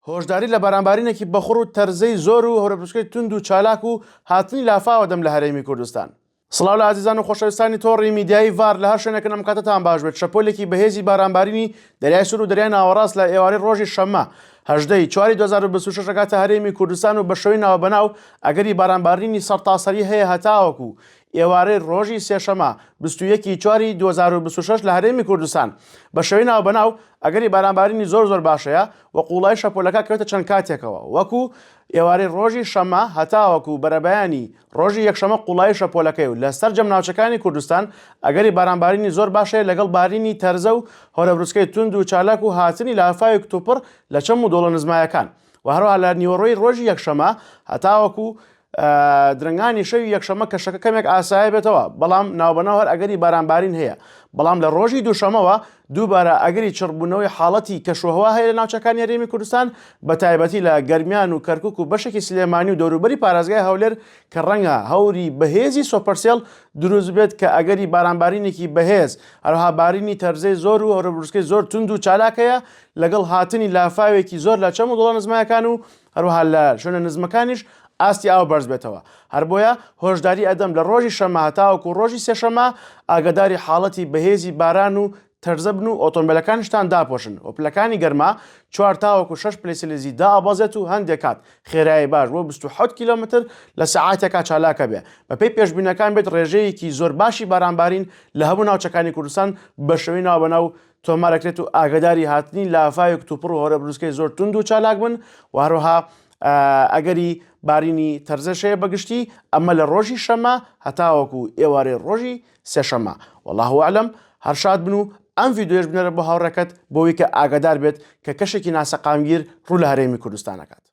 هۆشداری لە بەرامبارینێکی بەخوڕ و تەرزەی زۆر و هەورەبروسکەی توند و چالاک و هاتنی لافاوە دەم لە هەرێمی کوردستان. سڵاو لە ئازیزان و خۆشەویستانی تۆڕی میدیایی ڤار لە هەر شوێنێکن ئەم کاتەتان باش بێت شەپۆلێکی بەهێزی بارانبارینی دەریای سور و دەریای ناوەڕاست لە ئێوارەی ڕۆژی شەممە هەژدە ی چواری دوو هەزار و بیست و شەش ئەگاتە هەرێمی کوردستان و بە شێوەی ناوبەناو ئەگەری بارانبارینی سەرتاسەری هەیە هەتاوەکو ئێوارەی ڕۆژی سێشەمە بیست و یەک ی چواری دوو هەزار و بیست و شەش لە هەرێمی کوردستان بە شێوەی ناوبەناو ئەگەری بارانبارینی زۆر زۆر باشەیە و قوڵایی شەپۆلەکە کەوێتە چەند کاتێکەوە وەکو ئێوارەی ڕۆژی شەممە هەتاوەکو بەرەبەیانی ڕۆژی یەکشەمە قوڵایی شەپۆلەکەی و لە سەرجەم ناوچەکانی کوردستان ئەگەری بارانبارینی زۆر باشەیە لەگەڵ بارینی تەرزە و هەورەبروسکەی توند و چالاک و هاتنی لافاوی کتوپڕ لە چەم و دۆڵە نزمایەکان و هەروەها لە نیوەڕۆی ڕۆژی یەکشەمە هەتاوەکو درنگانی شەوی یەکشەمە کە شەکە کەمێک ئاسایە بێتەوە بەڵام ناوبەناو هەر ئەگەری بارانبارین هەیە بەڵام لە ڕۆژی دووشەمەوە دووبارە ئەگەری چڕبوونەوەی حاڵەتی کەشوهوا هەیە لە ناوچەکانی هەرێمی کوردستان بە تایبەتی لە گەرمیان و کەرکک و بەشێکی سلێمانی و دەوروبەری پارێزگای هەولێر کە ڕەنگە هەوری بەهێزی سۆپەرسێڵ دروست بێت کە ئەگەری بارانبارینێکی بەهێز هەروها بارینی تەرزەی زۆر و هەرە بروسکەی زۆر تونند و چالاکەیە لەگەڵ هاتنی لافاوێکی زۆر لە چەم و دۆڵە نزمەکان و هەروەها لە شوێنە نزمەکانیش ئاستی ئاو بەرز بێتەوە، هەر بۆیە هۆشداری ئەدەم لە ڕۆژی شەممە هەتاوەکو ڕۆژی سێشەممە ئاگاداری حاڵەتی بەهێزی باران و تەرزە بن و ئۆتۆمبێلەکانیشتان داپۆشن و پلەکانی گەرما چوار تاوەکو شەش پلەی سیلیزی دائەبەزێت و هەندێک کات خێرایی باش بۆ بیست و حەوت کیلۆمەتر لە سەعاتێکا چالاکە بێ بەپێی پێشبینەکان بێت ڕێژەیەکی زۆر باشی بارانبارین لە هەموو ناوچەکانی کوردستان بەشێوەی ناوبەناو تۆمارەکرێت و ئاگداری هاتنی لافاوی کتوپڕ و هۆرە بروسکەی زۆر توند و چالاک بن و هەروەها ئەگەری بارینی تەرزەشەیە بەگشتی ئەمە لە ڕۆژی شەمە هەتاوەکو ئێوارەی ڕۆژی سێشەمە والله عالم هەرشاد بن و ئەم ڤیددیوش بنەرە بۆ هاوڕێکەت بۆی کە ئاگادار بێت کە کەشێکی ناسەقامگیر ڕوو لە هەرێمی کوردستانەکات.